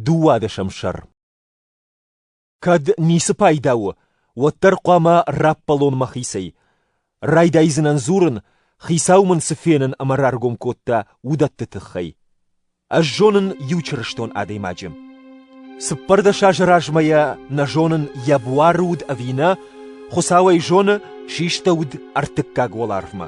Дыууадӕсӕм сӕр. Кӕд ницы пайда у, уӕддӕр хъуамӕ раппӕлон мӕхицӕй. Райдайдзынӕн дзурын, хицау мын цы фенын ӕмӕ раргом кодта, уыдӕтты тыххӕй. Ӕз зонын иу чырыстон адӕймаджы. Цыппӕрдӕс азы размӕ йӕ нӕ зонын йӕ буары уыд ӕви нӕ, Хуыцау ӕй зоны, систӕуыд ӕртыккаг уӕларвмӕ.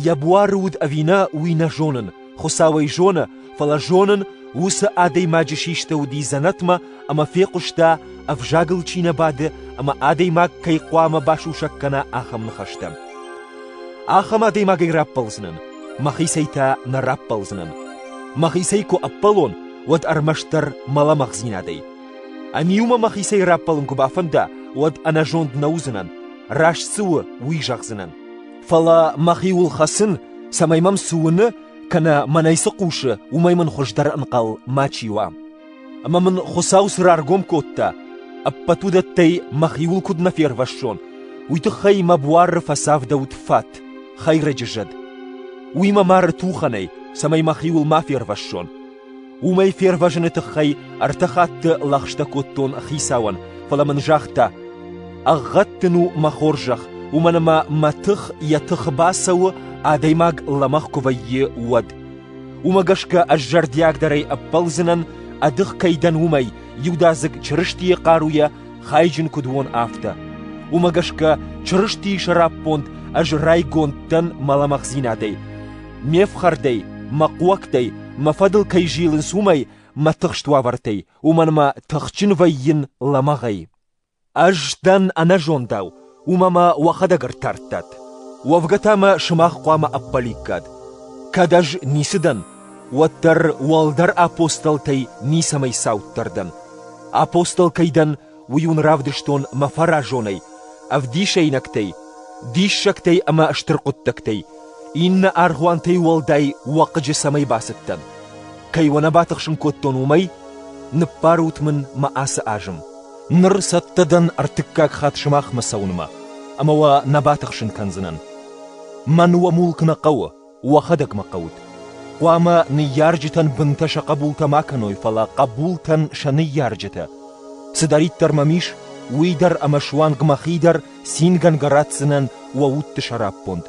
Йӕ буары уыд ӕви нӕ, уый нӕ зонын, Хуыцау ӕй зоны, фӕлӕ зонын, уыцы адӕймаджы систы уыди дзӕнӕтмӕ ӕмӕ фехъуыста, ӕвзагыл чи нӕ бады ӕмӕ адӕймаг кӕй хъуамӕ басусӕг кӕна, ахӕм ныхӕстӕ. Ахӕм адӕймагӕй раппӕлдзынӕн, мӕхицӕй та нӕ раппӕлдзынӕн. Мӕхицӕй куы ӕппӕлон, уӕд ӕрмӕстдӕр мӕ лӕмӕгъдзинадӕй. Ӕниу-ма мӕхицӕй раппӕлын куы бафӕнда, уӕд ӕнӕзонд нӕ уыдзынӕн, раст цы у, уый зӕгъдзынӕн. Фӕлӕ мӕхиуыл хӕцын, цӕмӕй мӕм цы уыны, кӕнӕ мӕнӕй цы хъусы, уымӕй мын хуыздӕр ӕнхъӕл мачи уа. Ӕмӕ мын Хуыцау цы раргом кодта, ӕппӕт уыдӕттӕй мӕхиуыл куыд нӕ фервӕссон, уый тыххӕй мӕ буары фӕцавдӕуыд фат, хӕйрӕджы зӕд. Уый мӕ мары тухӕнӕй, цӕмӕй мӕхиуыл ма фервӕссон. Уымӕй фервӕзыны тыххӕй ӕртӕ хатты лӕгъстӕ кодтон хицауӕн, фӕлӕ мын загъта: «Ӕгъгъӕд дын у, мӕ хорзӕх, уымӕн ӕмӕ мӕ тых йӕ тыхы бацӕуы, адӕймаг лӕмӕгъ куы вӕййы, уӕд. Уымӕ гӕсгӕ ӕз зӕрдиагдӕрӕй ӕппӕлдзынӕн, ӕдых кӕй дӕн, уымӕй, иудадзыг Чырыстийы хъаруйӕ хайджын куыд уон, афтӕ. Уымӕ гӕсгӕ Чырыстийы сӕраппонд ӕз райгонд дӕн мӕ лӕмӕгъдзинадӕй. Ме фхӕрдӕй, мӕ хъуӕгтӕй, мӕ фӕдыл кӕй зилынц, уымӕй, мӕ тыхст уавӕртӕй, уымӕн мӕ тыхджын вӕййын лӕмӕгъӕй. Ӕз дӕн ӕнӕзондау, уымӕ мӕ уӕхӕдӕг ӕртардтат. Уӕвгӕ та мӕ сымах хъуамӕ ӕппӕликкат. Кӕд ӕз ницы дӕн, уӕддӕр уӕлдӕр апостолтӕй ницӕмӕй цауддӕр дӕн. Апостол кӕй дӕн, уый уын равдыстон мӕ фӕразонӕй, ӕвдисӕйнӕгтӕй, диссӕгтӕй ӕмӕ стыр хъуыддӕгтӕй, иннӕ аргъуантӕй уӕлдай уӕ хъыджы цӕмӕй бацыдтӕн. Кӕй уӕ нӕ батыхсын кодтон, уымӕй? Ныббарут мын мӕ ацы азым. Ныр цӕттӕ дӕн ӕртыккаг хатт сымахмӕ цӕуынмӕ, ӕмӕ уӕ нӕ батыхсын кӕндзынӕн. Мӕн уӕ мулк нӕ хъӕуы. уӕхӕдӕг мӕ хъӕут. Хъуамӕ ныййарджытӕн бынтӕ сӕ хъӕбултӕ ма кӕной, фӕлӕ хъӕбултӕн сӕ ныййарджытӕ. Цыдӕриддӕр мӕм ис, уый дӕр ӕмӕ суанг мӕхи дӕр цингӕнгӕ ратдзынӕн уӕ удты сӕраппонд.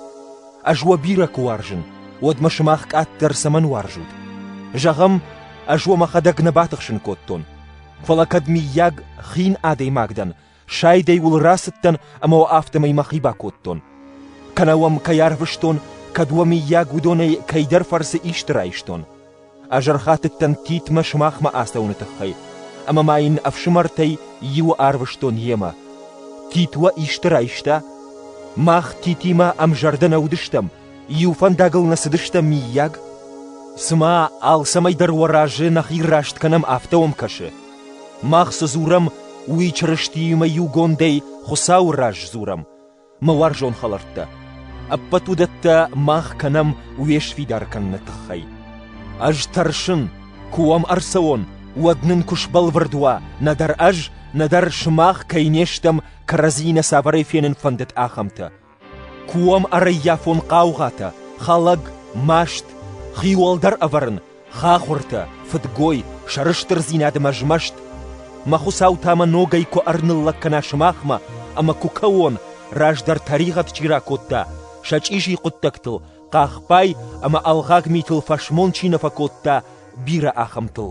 Ӕз уӕ бирӕ куы уарзын, уӕд мӕ сымах къаддӕр цӕмӕн уарзут? Зӕгъӕм, ӕз уӕ мӕхӕдӕг нӕ батыхсын кодтон. Фӕлӕ кӕд, миййаг, хин адӕймаг дӕн, Сайдӕй уыл рацыдтӕн ӕмӕ уӕ афтӕмӕй мӕхи бакодтон. Кӕнӕ уӕм кӕй арвыстон, кӕд уӕ мыййаг уыдонӕй кӕйдӕр фӕрцы исты райстон. Ӕз ӕрхатыдтӕн Титмӕ сымахмӕ ацӕуыны тыххӕй, ӕмӕ ма йын ӕфсымӕртӕй иуы арвыстон йемӕ. Тит уӕ исты райста? Мах Титимӕ ӕмзӕрдӕ нӕ уыдыстӕм, иу фӕндагыл нӕ цыдыстӕм, мыййаг? Цымӕ алцӕмӕй дӕр уӕ разы нӕхи раст кӕнӕм, афтӕ уӕм кӕсы? Мах цы дзурӕм, уый Чырыстиимӕ иугондӕй Хуыцауы раз дзурӕм, мӕ уарзон хӕлӕрттӕ. Ӕппӕт уыдӕттӕ мах кӕнӕм уе сфидар кӕныны тыххӕй. Ӕз тӕрсын, куы уӕм ӕрцӕуон, уӕд нын куы сбӕлвырд уа, нӕдӕр ӕз, нӕдӕр сымах кӕй не стӕм кӕрӕдзийы нӕ цавӕрӕй фенын фӕндыд, ахӕмтӕ. Куы уӕм ӕрӕййафон хъаугъатӕ, хӕлӕг, маст, хиуӕлдӕр ӕвӕрын, хахуыртӕ, фыдгой, сӕрыстырдзинад ӕмӕ змӕст, мӕ Хуыцау та мӕ ногӕй куы ӕрныллӕг кӕна сымахмӕ ӕмӕ куы кӕуон, раздӕр тӕригъӕд чи ракодта, сӕ чъизи хъуыддӕгтыл, хъахбай ӕмӕ ӕлгъаг митыл фӕсмон чи нӕ фӕкодта, бирӕ ахӕмтыл.